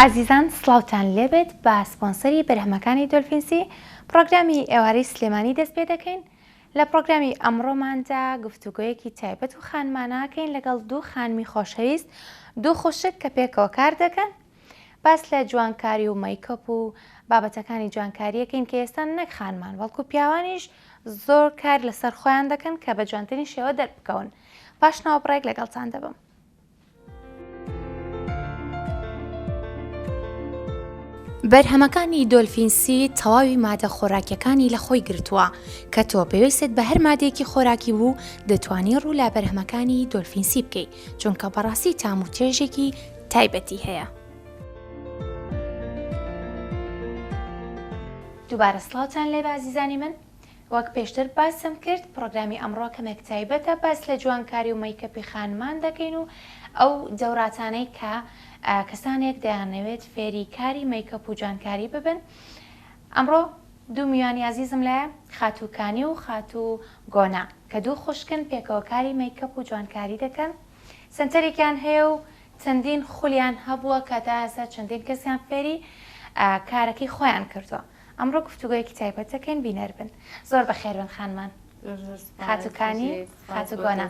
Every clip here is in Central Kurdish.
ئازیزان سلااوان لێبێت بە سپۆنسەری بەرهەمەکانی دۆلفینسی پرۆگرامی ئێوارەی سلێمانی دەست پێ دەکەین لە پرۆگرامی ئەمڕۆماندا گفتوگویەکی تایبەت و خانماناکەین لەگەڵ دوو خانمی خۆشەویست دوو خوشک کە پێکەوە کار دەکەن باس لە جوانکاری و مەیکەپ و بابەتەکانی جوانکاری ئەکەین کە ئێستا نەک خانمان بەڵکو پیاوانیش زۆر کار لەسەر خۆیان دەکەن کە بە جوانترین شێوە دەربکەون پاش ناوەبڕێک لەگەڵتان دەبم. بەرهەمەکانی دۆلفین سی تەواوی مادە خۆراکیەکانی لە خۆی گرتووە کە تۆ پێویستت بە هەر مادێکی خۆراکی بوو دەتوانی ڕوو لە بەرهەمەکانی دۆلفین سی بکەیت چونکە بەڕاستی تام و چێژێکی تایبەتی هەیە. دووبارە سڵاوتان لێ بازیزانی من وەک پێشتر باسم کرد پرۆگرامی ئەمڕۆ کەمێک تایبەتە باس لە جوانکاری و مەیکەپی خانمان دەکەین و ئەو دەوراتانەی کە کەسانێک دەیانەوێت فێری کاری مەیکەپ و جوانکاری ببن ئەمڕۆ دوو میوانی ئازیزم لایە، خاتوو کانی و خاتوو گۆنا، کە دوو خوشکن پێکەوە کاری مەیکەپ و جوانکاری دەکەن، سەنتەرێکیان هەیە و چەندین خولیان هەبووە کە تا ئێستا چەندین کەسیان فێری کارەکەی خۆیان کردووە. ئەمڕۆ گفتوگۆیەکی تایبەت دەکەین بینەر بن. زۆر بەخێربن خانمان خاتوو کانی، خاتوو گۆنا.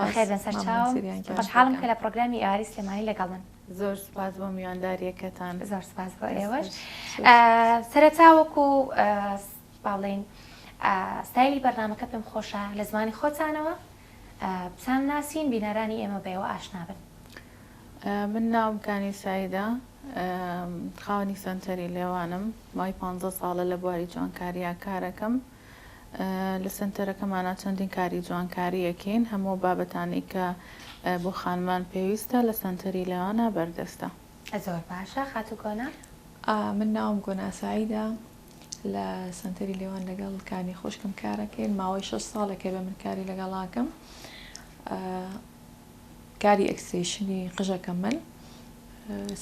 بەخێربێن سەرچاوم. خۆشحاڵم کە لە پڕۆگرامی ئێوارەی سلێمانی لەگەڵمن. زۆر سوپاس بۆ میوانداریەکەتان. زۆر سوپاس بۆ ئێوەش. سەرەتا وەکو با بڵێین ستایلی بەرنامەکە پێم خۆشە لە زمانی خۆتانەوە بتان ناسین بینەرانی ئێمە بەیەوە ئاشنا بن. من ناوم کانی سایدە خاوەنی سەنتەری لێوانم مای پ ساڵە لە بواری جوانکاریا کارەکەم. لە سەنتەرەکەمانا چەندین کاری جوانکاری ئەکەین هەموو ئەو بابەتانەی کە بۆ خانمان پێویستە لە سەنتەری لێوانا بەردەستە. زۆر باشە خاتوو گۆنا. من ناوم گۆنا سەعیدە لە سەنتەری لێوان لەگەڵ کانی خوشکم کارەکەین ماوەی شەش ساڵێکە بێ من کاری لەگەڵاکەم. کاری ئێکستێشنی قژەکە من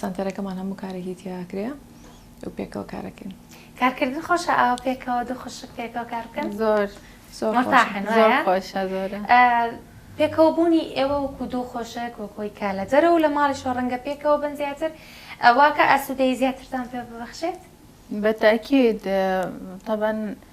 سەنتەرەکەمان هەموو کارێکی تیا کرێ و پێکەوە کارەکەین کارکردن خۆشە ئاوا پێکەوە دوو خوشک پێکەوە کار بکەن زۆر زۆر مەتاحن زۆر وایە؟ خۆشە زۆرە آه، پێکەوەبوونی ئێوە وەکو دوو خۆشک وەکۆی کە لە دەرەوە لە ماڵیشەوە ڕەنگە پێکەوە بن زیاتر آه، واکە ئاسوودەیی زیاترتان پێ ببەخشێت بە تاکید طبعا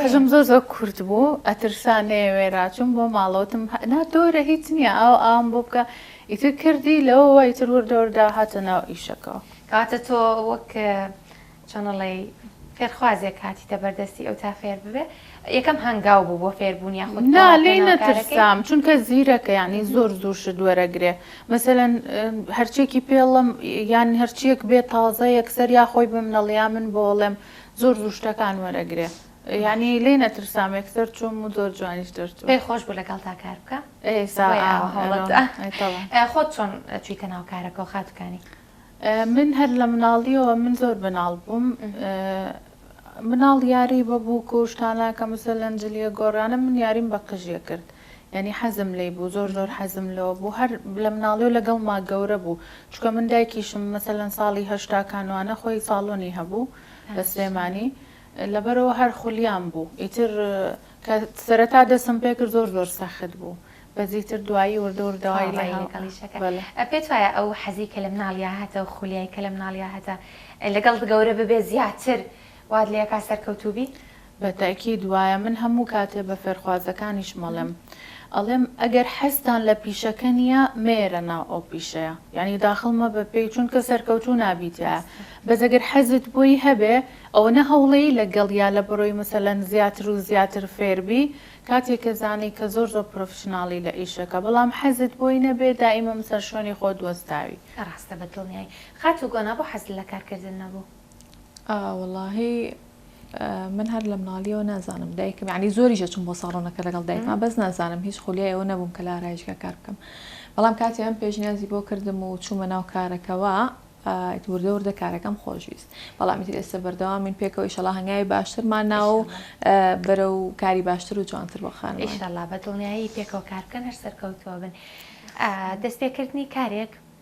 قژم زۆر زۆر کورت بوو ئەترسا نەیەوێرا چوم بۆ ماڵەوتم نا دۆرە هیچ نییە ئاو ئام بۆ بکە ئیتر کردی لەوە وای تر وردەوردا هاتە ناو ئیشەکەەوە کاتە تۆ وەک چۆنەڵی فێرخوازێک کاتیتە بەردەستی ئەو تا فێر ببێ یەکەم هەنگاو بوو بۆ فێربوون یا خود نا لێ نەترسام چونکە زیرەکە ینی زۆر زوو شت وەرەگرێ مەسەەن هەرچێکی پێڵم یان هەرچیەک بێ تازە یەکسەر یا خۆی بمنەڵیا من بۆڵێم زۆر زوو شتەکان وەرەگرێ یعنی لێ نەترسام یەکسەر چووم و زۆر جوانیش دەرچوو پێ خۆش بوو لەگەڵ تا کار بکە خۆت چۆن چیتە ناو کارەکە و خاتکانی من هەر لە مناڵیەوە من زۆر بناڵ بووم مناڵ یاری بە بووک و شتانە کە مسە لەنجلیە گۆڕانە من یاریم بە قژیە کرد یانی حەزم لێی بوو زۆر زۆر حەزم لۆ بوو هەر لە مناڵیو لەگەڵ ما گەورە بوو چونکە من دایکیشم مەسەلەن ساڵی هەشتا کانوانە خۆی ساڵۆنی هەبوو لە سلێمانی لەبەرەوە هەر خولیام بوو ئیتر کە سەرەتا دەسم پێ کرد زۆر زۆر سەخت بوو بەس ئیتر دوایی وردە وردە وای لێ هات بەلێ. پێت وایە ئەو حەزی کە لە مناڵیا هەتە و خولیای کە لە مناڵیا هەتە لەگەڵت گەورە ببێ زیاتر وات لێ ئەکا سەرکەوتوو بی؟ بە تەئکید وایە من هەموو کاتێ بە فێرخوازەکانیشم ئەڵێم ئەڵێم ئەگەر حەزتان لە پیشەکە نیە مەیەرە ناو ئەو پیشەیە یانی داخڵ مەبە پێی چونکە سەرکەوتوو نابی تیایا بەس ئەگەر حەزت بۆی هەبێ ئەوەنە هەوڵێی لەگەڵ یا لەبەرۆی مەسەلەن زیاتر و زیاتر فێربی کاتێ کە زانی کە زۆر زۆر پرۆفشناڵی لە ئیشەکە بەڵام حەزت بۆی نەبێ دائیمەم سەر شوێنی خۆت وەستاوی. ڕاستە بەدڵنیای. خاتوو گۆنا بۆ حەزت لە کارکردن نەبوو؟ ئا وەڵاهی. من هەر لە مناڵیەوە نازانم دایکم یعنی زۆریش ئەچووم بۆ ساڵۆنەکە لەگەڵ دایکما بەس نازانم هیچ خولیای ئەوە نەبووم کە لە ئارایشگا کار بکەم بەڵام کاتی ئەم پێشنیازی بۆ کردم و چوومە ناو کارەکەەوە وردە وردە کارەکەم خۆشویست بەڵام تر ئێستا بەردەوام من پێکەوە ئیشەڵا هەنگاوی باشترمان ناو و بەرە و کاری باشتر و جوانتر بۆ خانم ئیشەڵا بە دڵنیایی پێکەوە کار بکەن هەر سەرکەوتووە بن دەستپێکردنی کارێک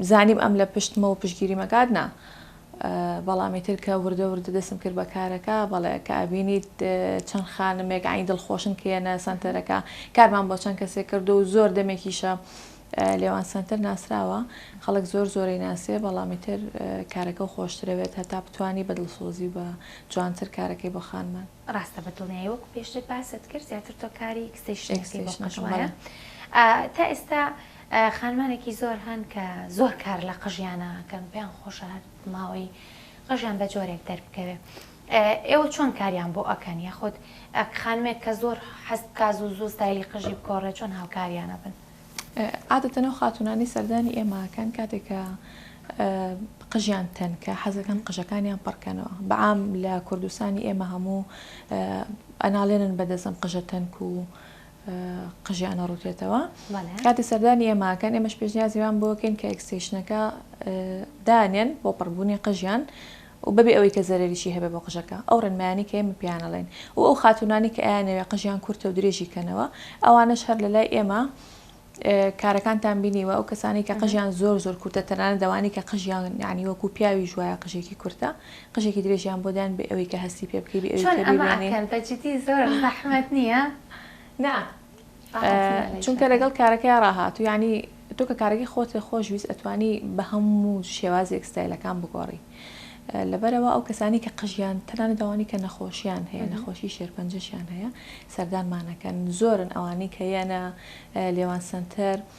زانیم ئەم لە پشتمە و پشتگیریم ئەکات نا بەڵام ئیتر کە وردە وردە دەسم کرد بە کارەکە بەڵێ کە ئەبینیت چەند خانمێک عین دڵخۆشن کە یەنە سەنتەرەکە کارمان بۆ چەند کەسێک کردو و زۆر دەمێکیشە لێوان سەنتەر ناسراوە خەڵک زۆر زۆرەی ناسێ بەڵامی تر کارەکە خۆشترەوێت هەتا بتانی بە دڵسۆزی بە جوانتر کارەکەی بۆ خانمان ڕاستە بە دڵنیایی وەکو پێشتر باست کرد زیاتر تۆ کاری ئکستەیشنەکەی بۆ قژ وایە تا ئێستا خانمانێکی زۆر هەن کە زۆر کار لە قژیانە کەم پێیان خۆشە هەر ماوەی قژیان بە جۆرێک دەربکەوێ ئێوە چۆن کاریان بۆ ئەکەن یاخود خانمێک کە زۆر حەست کاز و زوو ستایلی قژی بگۆڕێ چۆن هاوکاریانە بن عادەتەن ئەو خاتوونانەی سەردانی ئێمە ئەکەن کاتێک کە قژیان تەنکە حەزەکەن قژەکانیان پڕکەنەوە بەعام لە کوردستانی ئێمە هەموو ئەناڵێنن بەدەزم قژە تەنک و قژیانە ڕوتێتەوە کاتی سەردانی ئێماکەن ئێمەش پێشنیازیوان بۆکەین کە ئەکسیشنەکە دانێن بۆ پڕبوونی قژیان و بەبێ ئەوەی کە زەرەریی هەبێ بۆ قژەکە، ئەو ڕێنمایانەی کە ئێمە پێیان ئەڵێین و ئەو خاتوونانەی کە ئەیانەوێ قژیان کورتە و درێژی کەنەوە، ئەوانەش هەر لە لای ئێمە کارەکانتان بینیوە، ئەو کەسانەی کە قژیان زۆر زۆر کورتە، تەنانەت ئەوانەی کە قژیان یانی وەکوو پیاویش وایە قژێکی کورتە، قژێکی درێژیان بۆ داین بێ ئەوەی کە هەستی پێ بکەی، بێ ئەوەی کە بیبینی. چۆن ئەمە ئەکەن؟ بەجدی زۆر زەحمەت نییە؟ نا. چونکە لەگەڵ کارەکەی ڕاهاتوو یعنی تۆ کە کارەکەی خۆت لە خۆش ویست ئەتوانی بە هەموو شێوازێک ستایلەکان بگۆڕی لەبەرەوە ئەو کەسانی کە قژیان تەنان داوانی کە نەخۆشیان هەیە نەخۆشی شێرپەنجەشیان هەیە سەردانمانەکەن زۆرن ئەوانی کە یەنە لێوان سنتەر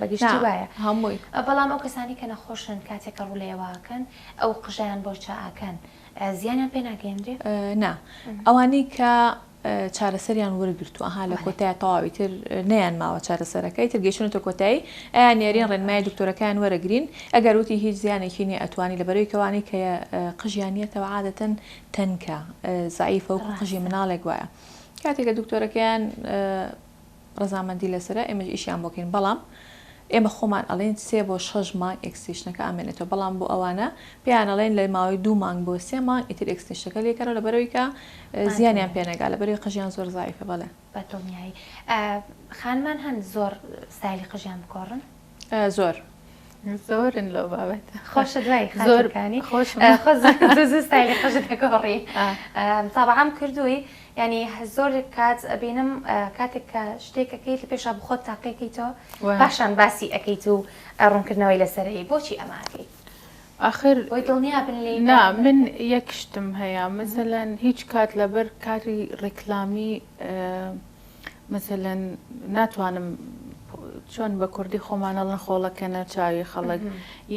بەگشتی وایە هەمووی بەڵام ئەو کەسانەی کە نەخۆشن کاتێک کە ڕوو لە ئێوە ئەکەن ئەو قژەیان بۆ چا ئەکەن زیانیان پێ ناگەیەنرێ؟ نا ئەوانەی کە چارەسەریان وەرگرتووە ها لە کۆتای تەواوی تر نیان ماوە چارەسەرەکەی تر گەشتونەتە کۆتایی ئەیان نێرین ڕێنمای دکتۆرەکان وەرەگرین ئەگەر وتی هیچ زیانێکی نیە ئەتوانی لە بەرەوی کەوانەی کە قژیانیەتەوە عادەتەن تەنکە زعیفە و قژی مناڵێک وایە کاتێک کە دکتۆرەکەیان ڕەزامەندی لەسەرە ئێمەش ئیشیان بۆ کەین بەڵام ئێمە خۆمان ئەڵێین سێ بۆ شەش مانگ ئێکستێشنەکە ئەمێنێتەوە بەڵام بۆ ئەوانە پێیان ئەڵێن لە ماوەی دوو مانگ بۆ سێ مانگ ئیتر ئێکستێشنەکە لێکەنەوە لەبەرئەوەی کە زیانیان پێ نەگا لەبەرئەوەی قژیان زۆر زەعیفە بەڵێ. بەدڵنیایی خانمان هەن زۆر ستایلی قژیان بگۆڕن؟ زۆر زۆرن لەو بابەت خۆشە دوای زۆرەکانی خۆشستایلی خۆشتەکەڕی تابعام کردووی ینی زۆر کات ئەبینم کاتێک کە شتێکەکەی لە پێشا بخۆت تاقیەکەیتەوە باشان باسی ئەەکەیت و ڕوونکردنەوەی لەسەرەی بۆچی ئەماکەی آخر وەی دڵنیا بن لێ نا من یەک شتم هەیە مثلەن هیچ کات لەبەر کاری ڕیکلامی مەسەلەن ناتوانم چۆن بە کوردی خۆمان ئەڵێن خۆڵەکەنە چاوی خەڵک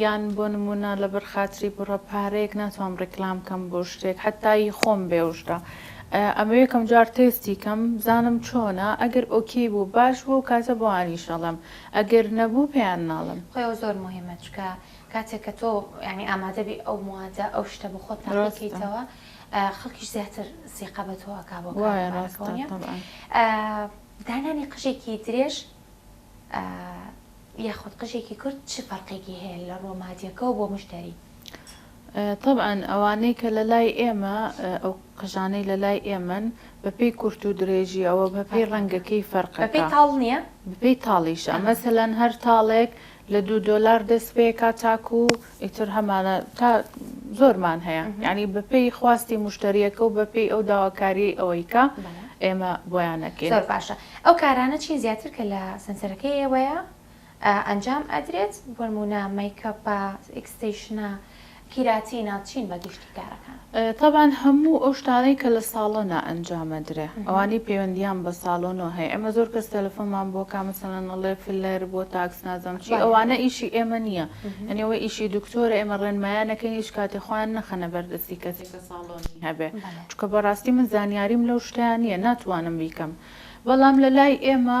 یان بۆ نمونە لەبەر خاتری بڕە پارەیەک ناتوانم ڕیکلام کەم بۆ شتێک حتایی خۆم بێوشتە ئەمە یەکەم جار تێستی کەم بزانم چۆنە ئەگەر ئۆکی بوو باش بوو کاتە بۆ ئانیشەڵم ئەگەر نەبوو پێیان ناڵم خۆەوە زۆر مهمە چکە کاتێک کە تۆ ینی ئامادەبی ئەو موادە ئەو شتە بۆ خۆت تاقیکەیتەوە. خەڵکیش زیاتر سیقە بە تۆ ئەکا بۆ کارەباکەوە نیە دانانی قژێکی درێژ یاخود قژێکی کورد چ فەرقێکی هەیە لە ڕووە مادیەکەەوە بۆ مشتری طبعاً ئەوانەی کە لە لای ئێمە ئەو قژانەی لە لای ئێمن بەپی کورت و درێژی ئەوە بەپی ڕەنگەکەی فەرقەکەی تاڵ نییە بپی تاڵیشە مەسەلەن هەر تاڵێک لە دوو دۆلار دەست پێکا تاکو ئیتر هەمانە تا زۆرمان هەیە یعنی بەپێی خواستی مشتریەکە و بەپێی ئەو داواکاریەی ئەوەی کە ئێمە بۆیانەکەین. زۆر باشە ئەو کارانە چین زیاتر کە لە سەنسەرەکەی ئێوەیە ئەنجام ئەدرێت بۆنمونە مەیکەپە ئیکستەیشنە قیراتی ناو چین بە گشتی کارەکان؟ تەبعەن هەموو ئەو شتانەی کە لە ساڵۆنا ئەنجام ئەدرێ ئەوانەی پەیوەندیان بە ساڵۆنەوە هەیە ئێمە زۆر کەس تەلەفۆنمان بۆ کا مەسەلەن ئەڵێ فلەر بۆ تاکس نازانم چی ئەوانە ئیشی ئێمە نییە یانی ئەوە ئیشی دکتۆرە ئێمە ڕێنمایان ئەکەین هیچ کاتێ خۆیان نەخەنە بەر دەستی کەسێک کە ساڵۆنی هەبێ چونکە بەڕاستی من زانیاریم لەو شتەیان نییە ناتوانم بیکەم بەڵام لە لای ئێمە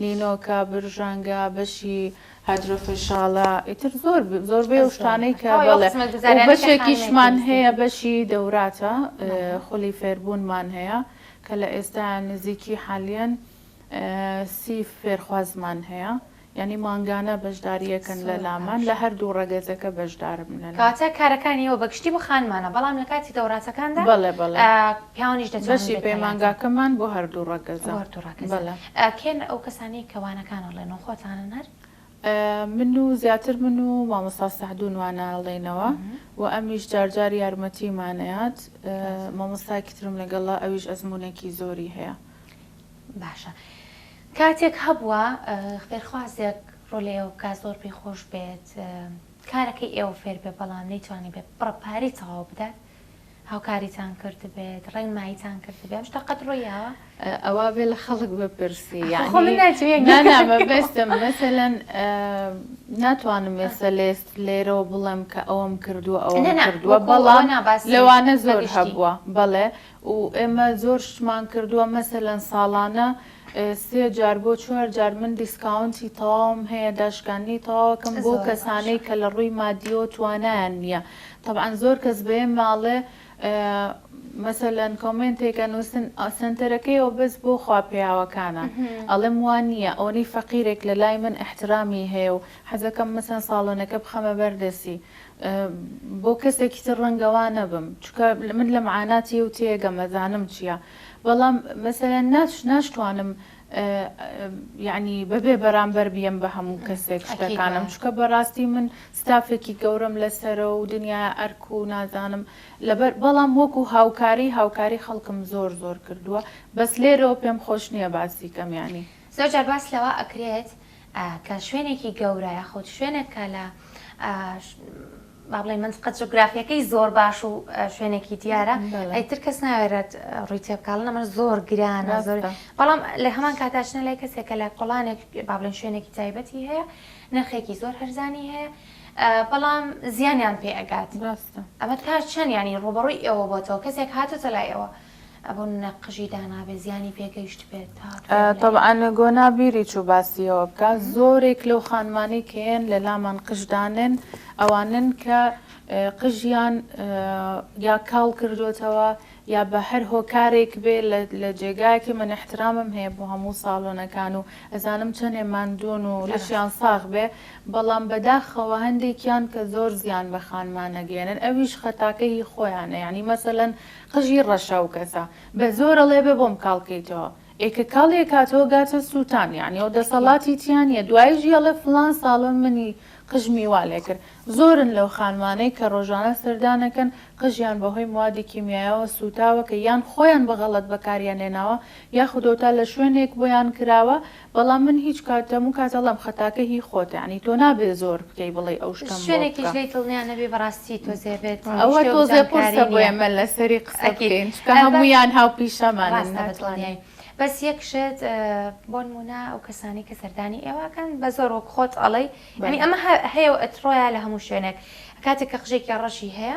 نینۆکە، برژانگە، بەشی هایدرۆفێشاڵە، ئیتر زۆر زۆربەی ئەو شتانەی کە بەڵێ و بەشێکیشمان هەیە بەشی دەوراتە خولی فێربوونمان هەیە کە لە ئێستا نزیکی حالیەن سی فێرخوازمان هەیە یعنی مانگانە بەشداریەکەن لە لامان لە هەردوو ڕەگەزەکە بەشداربن لە کاتە کارەکانی ئەوە بەگشتی بۆ خانمانە بەڵام لە کاتی دەوراتەکاندا بەڵێ بەڵێ پیاوانیش دەچێت بەشی پەیمانگاکەمان بۆ هەردوو ڕەگەزە هەردوو ڕەگەزە. کێن ئەو کەسانەی کە وانەکان ئەڵێنەوە خۆتانن هەر؟ من و زیاتر من و مامۆستا سەعدون وانە ئەڵێینەوە و ئەمیش جار جار یارمەتیمان ئەیات مامۆستایەکی ترم لەگەڵە ئەویش ئەزمونێکی زۆری هەیە. باشە کاتێک هەبووە فێرخوازێک ڕۆلە ئێوە بکات زۆر پێی خۆش بێت کارەکەی ئێوە فێر بێ بەڵام نەیتوانی بێت بڕە پارەی تەواو بدات هاوکاریتان کردبێت ڕێنماییتان کردبێ ئەم شتە قەت ڕوویاوە؟ ئەوا بێ لە خەڵک بپرسی بەستم مەسەەن ناتوانم ێستا لێست لێرەوە بڵێم کە ئەوم کردووە ئەو کردووە بەڵام لەوانە زۆر هەبووە بەڵێ و ئێمە زۆر شتمان کردووە مەسەەن ساڵانە سێ جار بۆ چوار جار من دیسکاونتی تەواوم هەیە داشکاندنی تەواوەکەم بۆ کەسانەی کە لە ڕووی مادیەوە توانایان نییە تەبعەن زۆر کەس بەێ ماڵێ مەسەلەن کۆمنتێکە نووسن سنتەرەکەیەوە بەس بۆ خواپیاوەکانە ئەڵم وان نییە ئەوەی فەقیرێک لە لای من احترامی هەیە و حەزەکەم مەسەن ساڵۆنەکە بخەمە بەردەسی بۆ کەسێکی تر ڕەنگەوا نەبم چکە من لە معاناتی و تێگەمەزانم چییە؟ بەڵام مەسەلەن ناچ ناشتوانم یەعنی بەبێ بەرامبەر بیەم بە هەموو کەسێک ئەکید شتەکانم وایە چونکە بەڕاستی من ستافێکی گەورەم لەسەرە و دنیای ئەرک و نازانم لەبەر بەڵام وەکو هاوکاری هاوکاری خەڵکم زۆر زۆر کردووە بەس لێرەوە پێم خۆش نییە باسی کەم یانی. زۆر جار باس لەوە ئەکرێت کە شوێنێکی گەورە یاخود شوێنێک کە لە با بڵێین مەنتقە جوگرافیەکەی زۆر باش و شوێنێکی دیارە ئەیتر کەس ناوێرێت ڕووی تێبکڵن ئەمە زۆر گرانە زۆر بەڵام لە هەمان کاتاچنە لای کەسێک کە لە کۆڵانێک با بڵێن شوێنێکی تایبەتی هەیە نرخێکی زۆر هەرزانی هەیە بەڵام زیانیان پێ ئەگات ئەمە تا چەند ینی ڕوبڕووی ئێوە بۆتەوە کەسێک هاتوتە لای ئەوە ئەبوو نەقژی دانابێ زیانی پێگەیشتبێت هاتووە تەبعەن گۆنا بیری چوو باسی ئەوە بکا زۆرێک لەو خانمانەی کە هێن لە لامان قژ دانێن ئەوانن کە قژیان یا کاڵ کردوتەوە یا بە هەر هۆکارێک بێ لە جێگایەکی من احترامم هەیە بۆ هەموو ساڵۆنەکان و ئەزانم چەندێ ماندوون و لەشیان ساغ بێ بەڵام بەداخەوە هەندێکیان کە زۆر زیان بە خانمانەگەێنن ئەویش خەتاکەی خۆیانە ینی مەسەەن قژی ڕەشە ئەو کەسە بە زۆر ئەڵێ بێ بۆم کاڵ کەیتەوە ئێ کە کاڵی ئەکاتەوە گاتە سووتان یانی ئەو دەسەڵاتی تیا نیە دوایش یەڵێ فڵان ساڵە منی قژمی وا لێ کرد زۆرن لەو خانمانەی کە ڕۆژانە سەردانەکەن قژیان بە هۆی موادی کیمیایەوە سووتاوە کە یان خۆیان بە غەڵەت بەکاریان هێناوە یاخودۆ تا لە شوێنێک بۆیان کراوە بەڵام من هیچ کات هەموو کات ئەڵێم خەتاکە هی خۆتە یانی تۆ نابێ زۆر بکەی بڵێی ئەو شتەم بۆ بکە. شوێنێکیش لێی دڵنیا نەبی بەڕاستی تۆزێ بێت ئەوە تۆزێ قورسە بۆ ئێمە لەسەری قسە بکەین چونکە هەموویان هاوپیشەمانن ناتوانین. بەس یەک شت بۆنمونە ئەو کەسانەی کە سەردانی ئێوەکەن بەزۆر وەک خۆت ئەڵێی یانی ئەمە هەیەو ئەتڕۆیە لە هەموو شوێنێک کاتێک کە قژێکی ڕەشی هەیە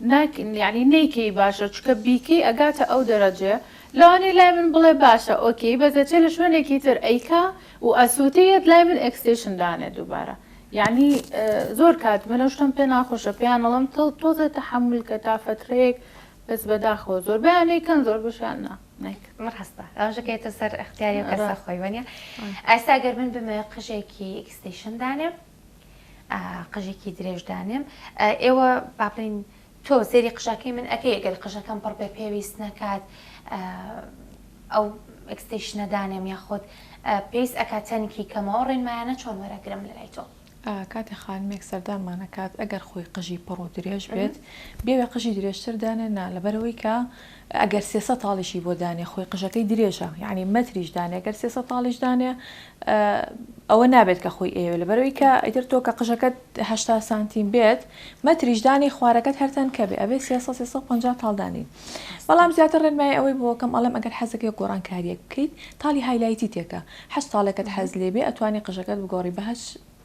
ناک یانی نەیکەی باشە چونکە بیکەی ئەگاتە ئەو دەرەجەیە لەوانەیە لای من بڵێ باشە ئۆکەی بەس دەچێ لە شوێنێکی تر ئەیکا و ئەسوتێ یەت لای من ئێکستێشن دانێ دووبارە یانی زۆر کات من ئەو شتەم پێ ناخۆشە پێیان ئەڵێم تڵ تۆزێ تەحەمول کە تا فەترەیەک بەس بەداخەوە زۆربەیان ئەیکەن زۆر بەشیان نا نایکەن ڕاستە ئەوەشە کە یەتە سەر ئەختیاری و کەسە خۆی وەنیە ئاستا گەر من بمەوێ قژێکی ئێکستێشن دانێم قژێکی درێژ دانێم ئێوە باڵین تۆ سێری قژەکەی من ئەەکەی گەر قژەکەم پڕ پێ پێویست نەکات ئەو ئەکستیشنە دانێم یاخود پێیس ئەکا تەنکی کەمەوە ڕێنمایانە چۆن وەرەگرم لە لای تۆ کاتێ خانمێک سەردانمانەکات ئەگەر خۆی قژی پڕ و درێژ بێت بێوێ قژی درێژتر دانێنا لەبەرەوەی کە ئەگەر سێ سەد تاڵیشی بۆ دانێ خۆی قژەکەی درێژە یەعنی مەتریش دانێ گەر سێ سەد تاڵیش دانێ ئەوە نابێت کە خۆی ئەیەوێ لەبەرەوەی کە ئیتر تۆ کە قژەکەت هەشتا سانتیم بێت مەتریش دانی خوارەکەت هەرتەن کە بێ ئەبێ سێ سەد سێ سەد و پەنجا تاڵ دانی بەڵام زیاتر ڕێنمایی ئەوەی بۆ کەم ئەڵێم ئەگەر حەزەکەی گۆڕانکارییەک بکەیت تاڵی هایلایتی تێکە هەشت تاڵێکت حەز لێ بێ ئەتوانی قژەکەت بگۆڕی بە هەشت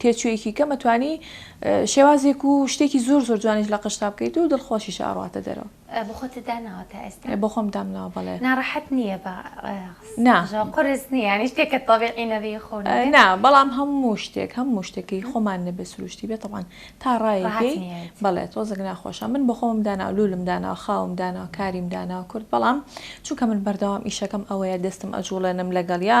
تێچوویەکی کەمە توانی شێوازێک و شتێکی زۆر زۆر جوانیش لە قژتا بکەیت و دڵخۆشیش ئەڕاتە دەرەوە. بۆ خۆتت داناوە تا ئێستا؟ بۆ خۆم دامناوە بەڵێ. ناڕەحەت نییە بە قژەوە قورس نییە یانی شتێکە تەبیعی نەبێ خۆو نەبێ؟ نا بەڵام هەموو شتێک هەموو شتێک کە هی خۆمان نەبێ سروشتی بێ تەبعەن تا ڕایەکی بەڵێ تۆزێک ناخۆشە من بۆ خۆمم داناوە لولم داناوە خاوم داناوە کاریم داناوە کورد بەڵام چونکە من بەردەوام ئیشەکەم ئەوەیە دەستم ئەجوڵێنم لەگەڵیا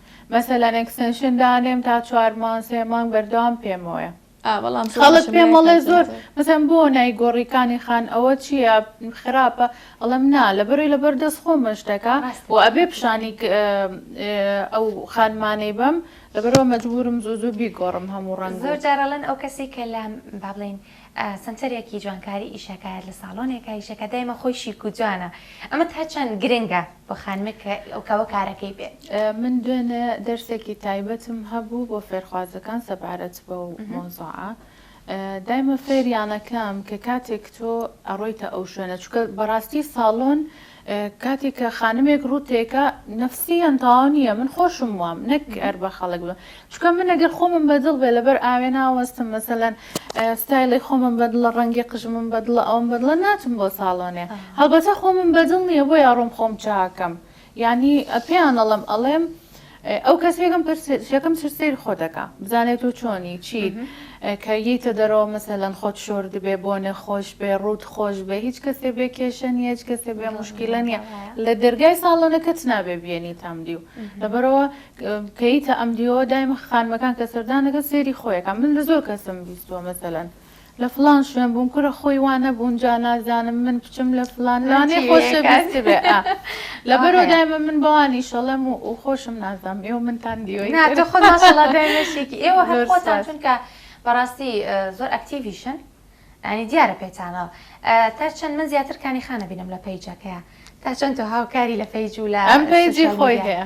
مەسەلەن ئێکستێنشن دانێم تا چوار مانگ سێ مانگ بەردەوام پێمەوەیە ئا بەڵام زۆر خەڵک بەشەملای پێم ئەڵێ زۆر کاتیاتە مەسەلەن بۆ نایگۆڕی کانی خان ئەوە چییە خراپە ئەڵێم نا لەبەرەی لەبەر دەست خۆمە شتەکە ڕاستە و ئەبێ پیشانی ک- ئە- ئەو خانمانەی بەم لەبەرەوە مەجبوورم زوو زوو بیگۆڕم هەموو ڕەنگ و زۆر جار ئەڵێن ئەو کەسەی کە لە با بڵێین سەنتەرێکی جوانکاری ئیشەکایەت لە ساڵۆنێکە ئیشەکە دایمە خۆی شیک و جوانە ئەمە تا چەند گرنگە بۆ خانمێک کە ئەو کەوە کارەکەی بێت؟ من دوێنێ دەرسێکی تایبەتم هەبوو بۆ فێرخوازەکان سەبارەت بەو مەوزوعە دایمە فێریان ئەکەم کە کاتێک تۆ ئەڕۆیتە ئەو شوێنە چونکە بەڕاستی ساڵۆن کاتێک کە خانمێک ڕووت تێکا نەفسی یان تەواو نییە من خۆشم وام نەک هەر بە خەڵک بە چکە من ئەگەر خۆمم بەدڵ بێ لەبەر ئاوێ ناوەستم مەسەلەن ستایلی خۆمم بەدڵە ڕەنگی قژمم بەدڵە ئەوم بەدڵە ناچم بۆ ساڵۆنێ هەڵبەتە خۆمم بەدڵ نییە بۆ یاڕۆم خۆم چاکەم یانی پێیان ئەڵم ئەڵێم ئەو کەس یەکەم پرس یەکەم چ سەیر خۆ دەکا بزانێت تۆ چۆنی چیت کە ییتە دەرەوە مەسەلەن خۆت شۆرد بێ بۆ نەخۆش بێ ڕووت خۆش بێ هیچ کەسێ بێ کێشە نیە هیچ کەسێ بێ مشکیلە نیە لە دەرگای ساڵۆنەکەت نابێ بێنی تام دیو لەبەرەوە کەیتە ئەم دیوەوە دایمە خانمەکان کە سەردانەکە سێری خۆیەکە من لە زۆر کەسم بیستوە مەسەلەن لە فڵان شوێن بووم کورە خۆی وا نەبوون جا نازانم من بچم لە فڵان لانێ خۆشە بیست بێ ئا لەبەرو دایمە من بەوان ئیشەڵەم و و خۆشم نازام ئێوە منتان دیوەی نا تۆ خۆت ماشەڵا دایمە شێکی ئێوە هەر خۆتان چونکە بەڕاستی زۆر ئەکتیڤیشن یانی دیارە پێتانەوە تا چەند من زیاتر کانی خانە بینم لە پەیجەکەیە تا چەند تۆ هاوکاری لە پەیج و لە ئەم پەیجی خۆی هەیە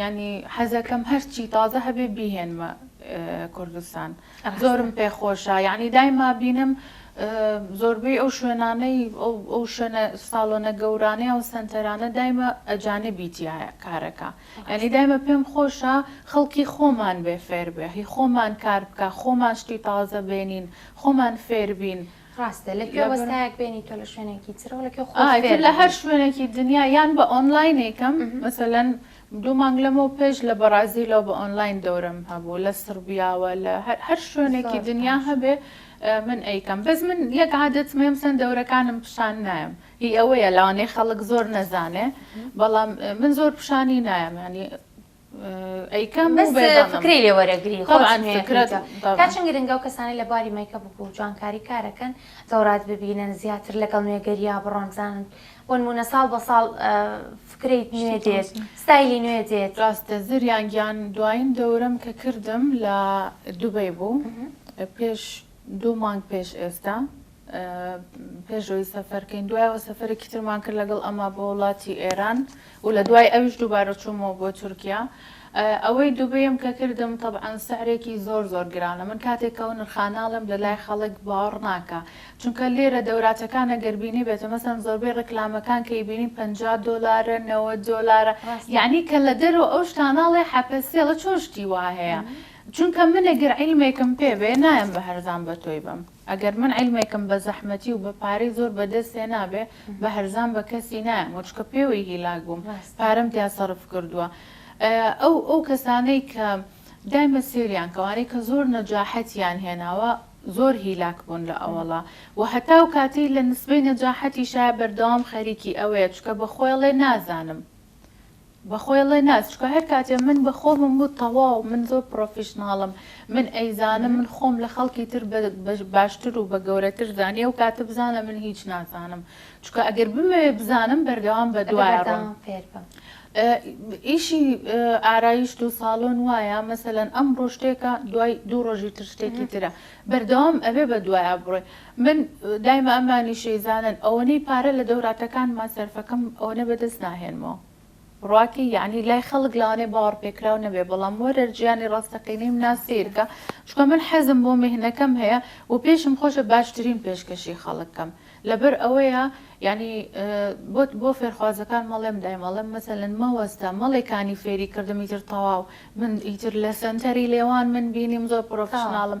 یانی حەزەکەم هەرچی تازە هەبێ بیهێنمە کوردستان زۆرم پێ خۆشە یعنی دایما بینم زۆربەی ئەو شوێنانەی ئەو شوێنە ساڵۆنە گەورانەیە و سنتەرانە دایمە ئەجانبی تایە کارەکە یعنی دایمە پێم خۆشە خەڵکی خۆمان بێ فێر بێ هی خۆمان کار بکە خۆمان شتی تازە بێنین خۆمان فێربین. ڕاستە لە کوێ وەستایەک بێنی تۆ لە شوێنێکی ترەوە لە کوێ خۆت فێر ئایتر لە هەر شوێنێکی دنیا یان بە ئۆنلاینێکم مهم. مەسەلەن دوو مانگ لەمەو پێش لە بەڕازیلەوە بە ئۆنلاین دەورەم هەبوو لە سڕبیاوە لە هەر هەر شوێنێکی زۆر دنیا باش هەبێ ئە، من ئەیکەم بەس من یەک عادەتم هەیە مەسەن دەورەکانم پیشان نایەم هی ئەوەیە لەوانەیە خەڵک زۆر نەزانێ بەڵام ئە، من زۆر پیشانی نایەم یانی ئەیکەم بەس فکری لێ وەرەگری طبعا فکرە تا چەند گرنگە و کەسانی لە بواری مەیکەپ و جوانکاری کارەکەن دەورات ببینن زیاتر لەگەڵ نوێگەریا بڕۆن بزانن بۆ نمونە ساڵ بە ساڵ فکرەی نوێ دێت ستایلی نوێ دێت راستە زریان گیان دوایین دەورەم کە کردم لە دوبەی بوو پێش دوو مانگ پێش ئێستا پێش ئەوەی سەفەر کەین دوای ئەوە سەفەرێکی ترمان کرد لەگەڵ ئەما بۆ وڵاتی ئێران و لە دوای ئەویش دووبارە چوومەوە بۆ تورکیا ئەوەی دوبەیەم کە کردم طبعاان سعرێکی زۆر زۆر گرانە من کاتێکەوە نرخاناڵم لە لای خەڵک باوەڕ ناکە چونکە لێرە دەوراتەکانە گەربینی بێتە مەسەن زۆربەی ڕکلامەکان کەی بینین 50 دلارە نەوە دۆلارە یعنی کە لە دەرەوە ئەو شتاناڵێ حەپەسێڵە چۆشتی وا هەیە چونکە منە گەر عیلمێکم پێ بێ نایم بە هەرزان بە تۆی بم. ئەگەر من عیلمێکم بە زەحمەتی و بە پارەی زۆر بە دەست هێنابێ، بە هەرزان بە کەسی نایەمەوە، چونکە پێوەی هیلاک بووم، پارەم تیا سەرف کردووە. ئەو ئەو کەسانەی کە دایمە سێریان کە ئەوانەی کە زۆر نەجاحەتیان هێناوە، زۆر هیلاک بوون لە ئەوەڵا و هەتا ئەو کاتەی لە نسبەی نەجاحەتیشایە بەردەوام خەریکی ئەوەیە، چونکە بە خۆی ئەڵێ نازانم. بەخۆی ڵێ نا چکە هەر کاتێ من بە خۆمم وت تەواو من زۆر پڕۆفیشناڵم من ئەیزانم من خۆم لە خەڵکی تر بە باشتر و بە گەورەتر زانی ئەو کاتە بزانە من هیچ نازانم چکە ئەگەر بمەوێ بزانم بەردەوام بە دوایە ڕۆم ئیشی ئارایشت و ساڵۆن وایە مەسەلەن ئەمڕۆ شتێکە دوای دوو ڕۆژی تر شتێکی ترە بەردەوام ئەبێ بە دوایە بڕۆی من دایمە ئەمانی شێزانن ئەوەنەی پارە لە دەوراتەکانما سەرفەکەم ئەوەنە بەدەست ناهێنمەوە ڕاکی یەعنی لای خەڵک لەوانەیە باوەڕ پێکراو نەبێ بەڵام وەرەر جیانی ڕاستەقینەیم نا سەیرکە چونکە من حەزم بۆ میهنەکەم هەیە و پێشم خۆشە باشترین پێشکەشی خەڵک کەم لەبەر ئەوەیە یەعنی بۆت بۆ فێرخوازەکان مەڵێم دایم ئەڵێم مەسەلەن مەوەستە مەڵێ کانی فێری کردم ئیتر تەواو من ئیتر لە سەنتەری لێوان من بینیم زۆر پڕۆفیشناڵم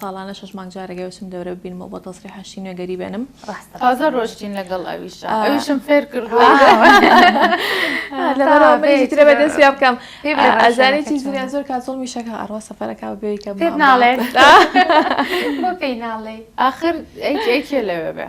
ساڵانە شەش مانگ جارێک ئەچم دەورە ببینمەوە بۆ تەسریح هەشتی نوێگەری بێنم ڕاستە تازە ڕۆشتین لەگەڵ ئەویشا ئەویشم فێر کردووە لەبەرەوە من هیچ ترە بەدەست پیا بکەم ئەزانێت چی زریان زۆر کات زۆڵمی شەکە ئەڕوا سەفەرەکە و بێیکە پێت ناڵێت بۆ پێی ناڵێی ئاخر ئەی کێ لەوێ بێ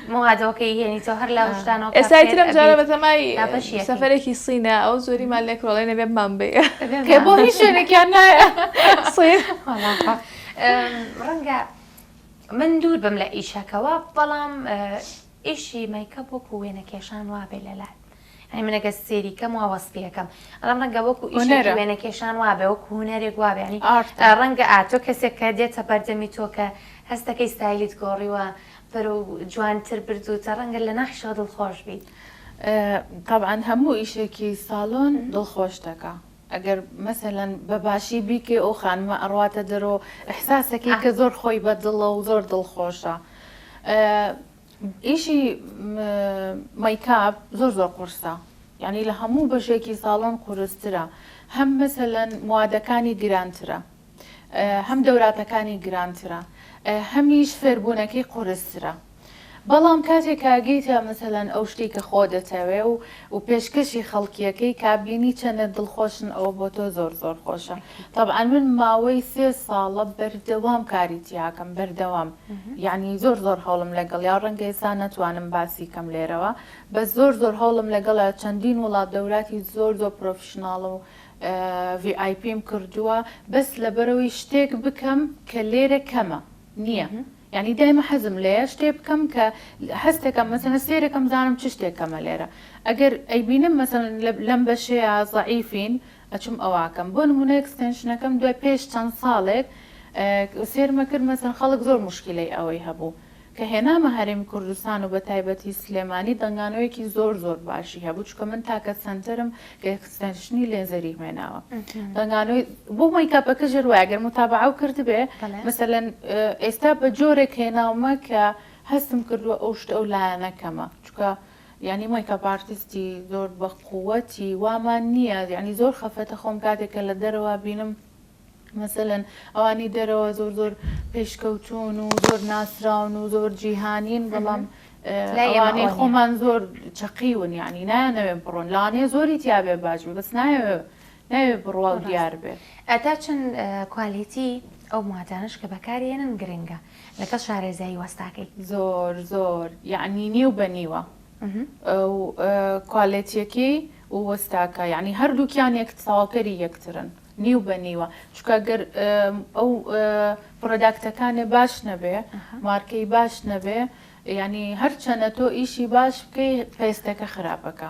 موادۆکەی هێنیتەوە هەر لە وشدانەوە ئێسای ترم جارە بەتەمای سەفەرێکی سینە ئەو زۆریمان لێ کۆڵێ نەبێ بمان بێ کە بۆ هیچ شوێنێکیان نایە ڕەنگە من دوور بم لە ئیشەکەەوە بەڵام ئیشی مەیکە بۆکو وێنە کێشان وابێ لەلات یانی من ئەگەر سێری کەم وا وەسفی ئەکەم بەڵام ڕەنگە وەکو ئیشێکی هونەرە وێنە کێشان وابێ وەکو هونەرێک وابێ یانی ئارتە ڕەنگە ئا تۆ کەسێک کە دێتە بەردەمی تۆ کە هەست دەکەی ستایلیت گۆڕیوە بەرەو جوانتر بردووتە ڕەنگە لە ناحیشەوە دڵخۆش بیت. تەبعەن هەموو ئیشێکی سالۆن دڵخۆش دەکا ئەگەر مەسەلەن بە باشی بیکەی ئەو خانمە ئەڕواتە دەرەوە و ئیحساس ئەکەی ئا. کە زۆر خۆی بە دڵە و زۆر دڵخۆشە. ئیشی مەیکاپ زۆر زۆر قورسە یانی لە هەموو بەشێکی ساڵۆن قورسترە هەم مەسەلەن موادەکانی گرانترە هەم دەوراتەکانی گرانترە هەمیش فێربوونەکەی قورسترە بەڵام کاتێک کاگەیتە مەسەلەن ئەو شتی کە خۆ دەتەوێ و و پێشکەشی خەڵکیەکەی کابینی چەندە دڵخۆشن ئەوە بۆ تۆ زۆر زۆر خۆشە تەبعا من ماوەی سێ ساڵە بەردەوام کاری تیاکەم بەردەوام یەعنی زۆر زۆر هەوڵم لەگەڵیا ڕەنگە ئێستا نەتوانم باسی کەم لێرەوە بەس زۆر زۆر هەوڵم لەگەڵیا چەندین وڵات دەوراتی زۆر زۆر پرۆفیشناڵ و ڤی ئای پیم کردووە بەس لەبەرەوەی شتێک بکەم کە لێرە کەمە نییە یعنی دایمە حەزم لێیە شتێ بکەم کە هەستێکم مەسەنە سێرەکەم زانم چ شتێکەمە لێرە ئەگەر ئەیبینم مەسەن لەم بەشەیە زعیفین ئەچوم ئەوئەکەم بۆ نمونە ئێکستێنشنەکەم دوای پێش چەند ساڵێک سێرمە کرد مەسەن خەڵک زۆر موشکیلەی ئەوەی هەبوو کە هێنامە هەرێمی کوردستان و بەتایبەتی سلێمانی دەنگانەوەیەکی زۆر زۆر باشی هەبوو چونکە من تاکە سەنتەرم کە ئێکستێنشنی لێزەری هوێناوە دەنگانەوەی بۆ مەیکاپەکە ژێر وایە گەر متابعەو کردبێ مەسەلەن ئێستا بە جۆرێک هێناومە کە هەستم کردووە ئەو شتە ئەو لایەنە کەمە چونکە یانی مەیکەپ ئارتیستی زۆر بە قوەتی وامان نیە یانی زۆر خەفەتە خۆم کاتێک کە لە دەرەوە بینم مەسەلەن ئەوانی دەرەوە زۆر زۆر پێشکەوتون و زۆر ناسراون و زۆر جیهانین بەڵام ئەوانەی خۆمان زۆر چەقیون یانی نایانەوێن بڕۆن لانێ زۆری تیاێ باش بەس نایەوێ ناوێ بڕوا و دیار بێ. ئەتا چەند کوالێتی ئەو مواتانەش کە بەکاری ئەنن گرنگە لەگەڵ شارێزایی وەستاکەی؟ زۆر زۆر یەعنی نیو بە نیوە و کوالێتیەکەی و وەستاکە یەعنی هەردووکیان یەک تەواوکەری یەکترن نیو بە نیوە چونکە گەر ئەو پڕۆداکتەکانێ باش نەبێ مارکەی باش نەبێ یەعنی هەرچەنە تۆ ئیشی باش بکەی پێستەکە خراپەکە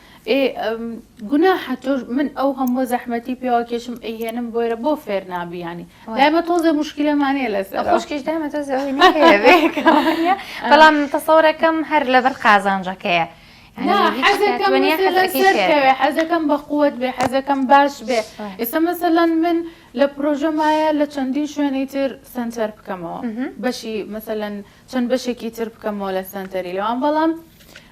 ئێ گوناحە تۆ من ئەو هەمووە زەحمەتی پێواکێشم ئەیهێنم بۆیرە بۆ فێر نابیانی دایمە تۆزێ مشکلەمانەیە لەس خۆشکیش دامە تۆ بەڵام تەسەورەکەم هەر لەبەر قازانجەکەیە حەزەکەم بە قوت بێ حەزەکەم باش بێ ئێستا مەسەلەن من لە پرۆژەمایە لە چەندین شوێنی تر سنتەر بکەمەوە بەشی مەسەلەن چەند بەشێکی تر بکەمەوە لە سنتەری لەوان بەڵام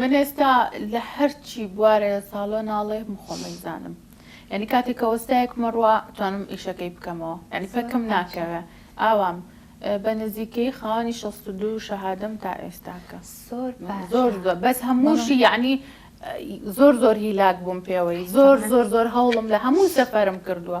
من ئێستا لە هەرچی بوارە لە ساڵۆ ناڵێم خۆم ئەیزانم یانی کاتێ کە وەستایەکمە ڕوا توانم ئیشەکەی بکەمەوە یانی پەکم ناکەوێ ئاوام بە نزیکەی خاوەنی شەست و دوو شەهادەم تا ئێستاکە زۆر زۆر زۆر بەس هەمووشی یعنی زۆر زۆر هیلاک بووم پێوەی زۆر زۆر زۆر هەوڵم لە هەموو سەفەرم کردووە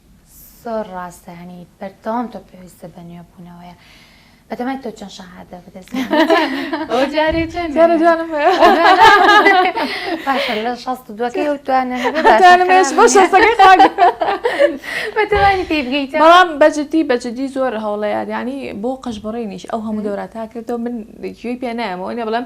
زۆر ڕاستە هەنی بەردەوام تۆ پێویستە بە نوێبوونەوەیە بەدەمای تۆ چەند شەهادە بدەست لە شەست دوەکەی و توانە بەتوانی پێ بگەیت بەڵام بەجددی بەجددی زۆر هەوڵەیە ینی بۆ قەشبڕێنیش ئەو هەموو دەوراتاکردەوە من گوێی پێ نایەمەوە نێ بڵم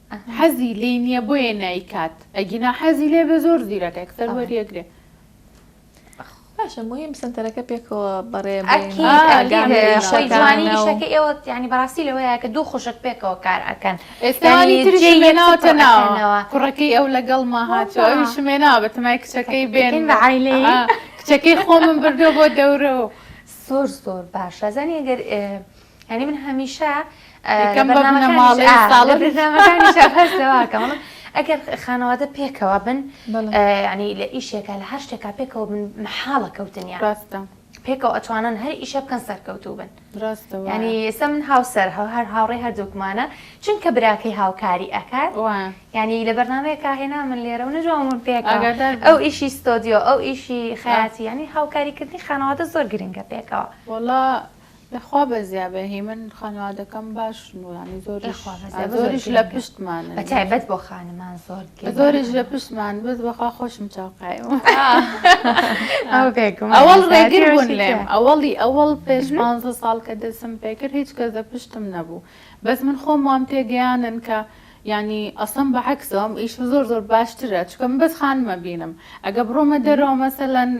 حەزی لێی نیە بۆیە نایکات ئەگینا حەزی لێ بێ زۆر زیرەکە یەکسەر وەریەگرێ. باشە مهم سنتەرەکە پێکەوە بەڕێ جوانی شەکە ئێوە ینی بەڕاستی لەوەیە کە دوو خوشک پێکەوە کار ئەکەن ئێستانی تریشێناوتە ناوەوە کوڕەکەی ئەو لەگەڵ ما هاتەوەوی شمێنا بە تەمای کچەکەی بێن بەعیلی کچەکەی خۆمم بردو بۆ دەورەوە زۆر زۆر باشە زانانی گەر یعنی من هەمیشە ئەگەر خانەوادە پێکەوە بن ینی لە ئیشێکە لە هەر شتێکا پێکەوە بن مححاڵە کەوتنیا ڕاستە پێکەوە ئەتوانن هەر ئیشە بکەن سەرکەوتوو بن ڕاستە ینی ئێستا من هاوسەر هەو هەر هاوڕێ هەردووکمانە چونکە براکەی هاوکاری ئەکات ینی لە بەرنمەیەکە هێنا من لێرە و نەجوامون پێک ئەو ئیشی ستۆدیۆ ئەو ئیشی خیاتی ینی هاوکاریکردنی خانەوادە زۆر گرنگە پێکەوە وڵا خوا بەزیابێ هیمن خانوادەکەم باشن و ینی زۆریش زۆریش لە پشتمان بەتایبەت بۆ خانمان زۆر زۆریش لە پشتمان بز بەخوا خۆشم چاوقایم ئەوەڵ ڕێگر بوون لێم ئەوەڵی ئەوەڵ پێش پانزە ساڵ کە دەسم پێکرد هیچ کەس دە پشتم نەبوو بەس من خۆم وام تێگەیانن کە ینی ئەسم بە عکسەوەم ئیش زۆر زۆر باشترە چکم بەس خانمە بینم ئەگە بڕۆمە دەرەوە مەسەلەن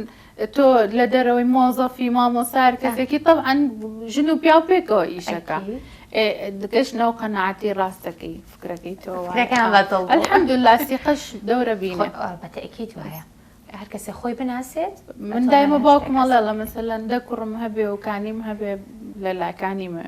تۆ لە دەرەوەی مۆزەفی مامۆسا هەر کەسێکی تەبعەن ژن و پیاو پێکەوە ئیشەکە دکەش نەو قەنەعاتی ڕاستەکەی فکرەکەی تۆ الحمدلله سیقەش دەورە بینە بەتەکی دوایە هەر کەسێ خۆی بناسێت من دایمە باوکمەڵێڵە مەسەلەن دە کوڕم هەبێ و کانیم هەبێ لە لاکانیمە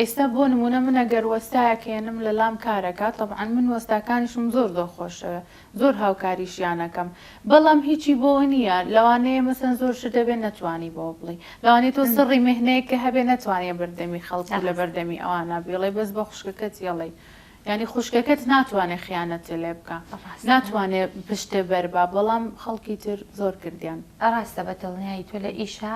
ئێستا بۆ نموونە من ئەگەر وەستایەک هێنم لە لام کار ئەکات تەبعەن من وەستاکانیشم زۆر زۆر خۆش ئەوێ زۆر هاوکاریشیان ئەکەم بەڵام هیچی بۆوە نییە لەوانەیە مەسەن زۆر شت هەبێ نەتوانی بەوە بڵی لەوانەیە تۆ سڕی مێهنەیەک کە هەبێ نەتوانیە بەردەمی خەڵک و لە بەردەمی ئەوانە بیڵێ بەس بە خوشکەکەت یەڵێی یانی خوشکەکەت ناتوانێ خیانەتێ لێ بکا ناتوانێ پشتێ بەربا بەڵام خەڵکی تر زۆر کردیان. ڕاستە بە دڵنیایی تۆ لە ئیشا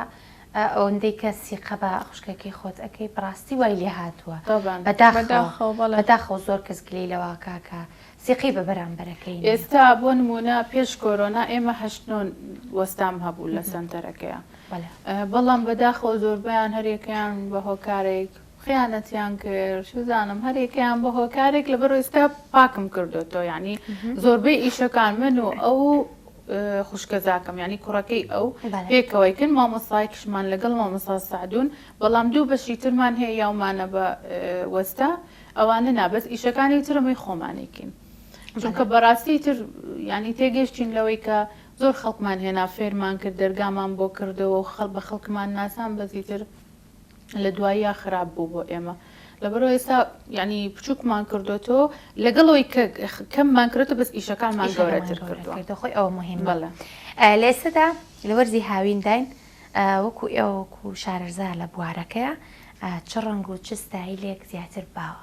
ئا ئەوەندەی کە سیقە بە خوشکەکەی خۆت ئەکەی بەڕاستی وای لێ هاتووە تەبان بەداخەوە بەداخەوە بەڵێ. بەداخەوە زۆر کەس گلەی لەوە ئەکا کە سیقەی بە بەرامبەرەکەی نییە. ئێستا بۆ نموونە پێش کۆرۆنا ئێمە هەشت نۆ وەستام هەبوو لە سەنتەرەکەیا بەڵێ. بەڵام بەداخەوە زۆربەیان هەر یەکەیان بە هۆکارێک. خیانەتیان کرد چوزانم هەر یەکەیان بە هۆکارێک لەبەر ئێستا پاکم کردۆتەوە یعنی زۆربەی ئیشەکان من و ئەو خوشکەزاکەم ینی کوڕەکەی ئەو پێکەوەیکن مامۆسایکشمان لەگەڵ مامۆسا سعدون بەڵام دوو بەشی ترمان هەیە یاومانە بە وەستا ئەوانە نابەت ئیشەکانی ترەمەی خۆمانێکین چونکە بەڕاستی تر ینی تێگەشتین لەوەی کە زۆر خەڵکمان هێنا فێرمان کرد دەرگامان بۆ کردەوە و خەڵ بە خەڵکمان ناسان بەزیتر لە دواییا خراپ بوو بۆ ئێمە لەبەرەوە ئێستا یعنی بچووکمان کردوێتەوە لەگەڵ ئەوی کە کەممان کردێتە بەس ئیشەکانمان گەورەتر کردووە خۆی ئەوە مهمە لێسەدا لە وەرزی هاوینداین وەکو ئێوەکو شارەرزا لە بوارەکەیە چ ڕەنگ و چ ستایلێک زیاتر باوە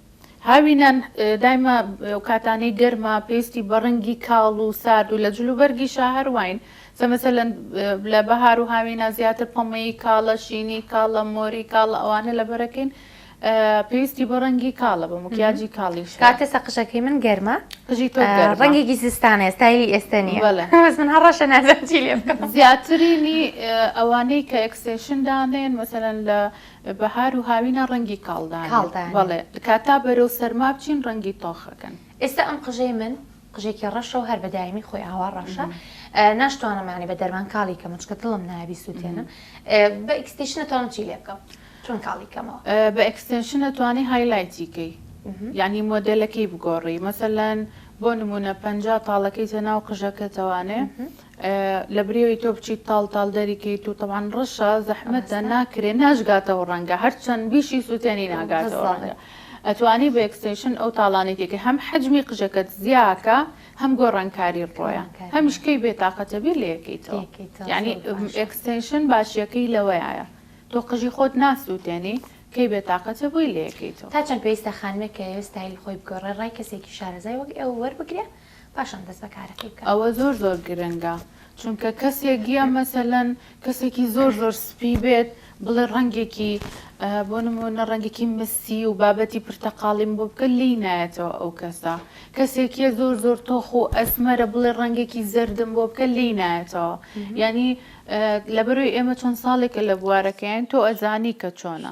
هاوینان دایمە و کاتانەی گەرما پێستی بە ڕەنگی کاڵ و سارد و لە جلوبەرگیشا هەرواین زە مەسەلەن لە بەهار و هاوینا زیاتر پەمەیی کاڵە، شینی کاڵە، مۆری کاڵە ئەوانە لەبەرەکین پێستی بە ڕەنگی کاڵە بە مکیاجی کاڵیش هەیە. کاکە سە قژەکەی من گەرمە قژی تۆ گەرمە. ڕەنگێکی زستانەیە ستایلی ئێستە نییە بەلە بەس من هە ڕەشە نازانم چی لێ بکەم. زیاترینی ئەوانەی کە ئێکستێشن دانێن مەسەلەن لە بەهار و هاوینە ڕەنگی کاڵدانن. کاڵدانن. بەڵێ. کاتا بەرەو سەرما بچین ڕەنگی تۆخ ئەکەن. ئێستا ئەم قژەی من قژێکی ڕەشە و هەر بە دایمی خۆی ئاوا ڕەشە. ناشتوانم یانی بە دەرمان کاڵی کەم و چونکە دڵم نایە بیسووتێنم. بە ئیکستیشن ئەتوانم چی لێ بکەم؟ چۆن کاڵی کەمەوە؟ بە ئێکستێنشن ئەتوانی هایلایتی کەی. یانی مۆدێلەکەی بگۆڕی. مەسەلەن بۆ نموونە پەنجا تاڵەکەیتە ناو قژەکەتەوانێ. لە بریوی تۆ بچیت تاڵ تاڵ دەری کەیت و تەبان ڕەشە زەحمەتە ناکرێ ناشگاتەوە ڕەنگە هەرچەند بیشی سووتێنی ناگاتەوە ڕەنگە ئەتوانی بە ئەکستێشن ئەو تاڵانەی تێکە هەم حەجمی قژەکەت زیاکە هەم گۆڕانکاری ڕۆیە هەمیش کەی بێتاقەتە بیر لەکەیتەوە یعنی ئەکستێشن باشیەکەی لەوەیە تۆ قژی خۆت ناسووتێنی کەی بێتاقەتە بووی لەکەیتەوە تا چەند پێویستە خانمێک کە ئێستایل خۆی بگۆڕێ ڕای کەسێکی شارەزای وەک ئێوە وەربگرێ پاشان دەست بەکارەکەی بکات. ئەوە زۆر زۆر گرنگە چونکە کەسێک یا مەسەلەن کەسێکی زۆر زۆر سپی بێت بڵێ ڕەنگێکی بۆ نمونە ڕەنگێکی مسی و بابەتی پرتەقاڵیم بۆ بکە لی نایەتەوە ئەو کەسە کەسێکیە زۆر زۆر تۆخ و ئەسمەرە بڵێ ڕەنگێکی زەردم بۆ بکە لی نایەتەوە ینی لەبەروی ئێمە چۆن ساڵێکە لە بوارەکەیان تۆ ئەزانی کە چۆنە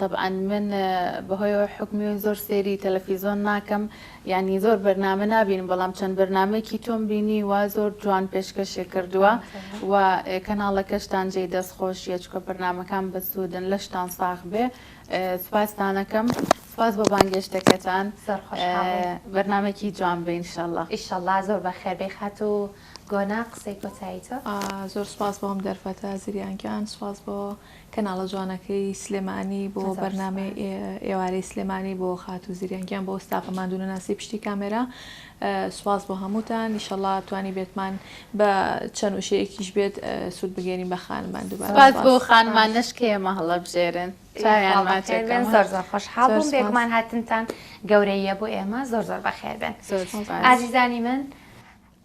تەبعەن من بەهۆیەوە حوکمی و زۆر سەیری تەلەفیزۆن ناکەم یانی زۆر بەرنامە نابینم بەڵام چەند بەرنامەیەکی تۆم بینیوە زۆر جوان پێشکەشی کردووە و کەناڵەکەشتان جێی دەست خۆشیە چکە بەرنامەکان بەسوودن لەشتان ساغ بێ سوپاستانەکەم سوپاس بۆ بانگێشتەکەتان بەرنمێکی جوان بە ئینشەڵە ئیشەڵا زۆر بە خێربەی خات و گۆنا قسەی کۆتایی تۆ زۆر سوپاس بۆم دەرفەتە زریانکان سوپاس بۆ کەناڵە جوانەکەی سلێمانی بۆ بەرنامەی ئێوارەی سلێمانی بۆ خاتوو زریان گیان بۆ ستافە ماندوونەناسی پشتی کامێرا سوپاس بۆ هەمووتان ئیشەڵا توانی بێتمان بە چەند وشەیەکیش بێت سوود بگەێنین بە خانمان دووبار سوپاس بۆ خانمان نشکەیە مەهڵە بژێرن خۆشحاڵ بووم بێگومان هاتنتان گەورەیە بۆ ئێمە زۆر زۆر بەخێر بێن ئازیزانی من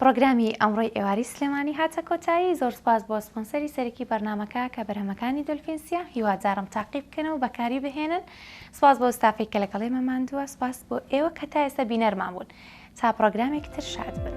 پڕۆگرامی ئەمڕۆی ئێواری سلێمانی هاتە کۆتایی، زۆر سوپاس بۆ سپۆنسەری سەرەکی بەرنامەکە کە بەرهەمەکانی دۆلفین سیا، هیوادارم تاقی بکەن و بەکاری بهێنن، سوپاس بۆ ستافەی کە لەگەڵ ئێمە ماندووە، سوپاس بۆ ئێوە کە تا ئێستا بینەرمان بوون، تا پڕۆگرامێک تر شاد بن.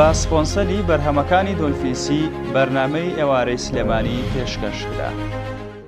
بە سپۆنسەری بەرهەمەکانی دۆلفین سی بەرنامەی ئێوارەی سلێمانی پێشکەشکرا.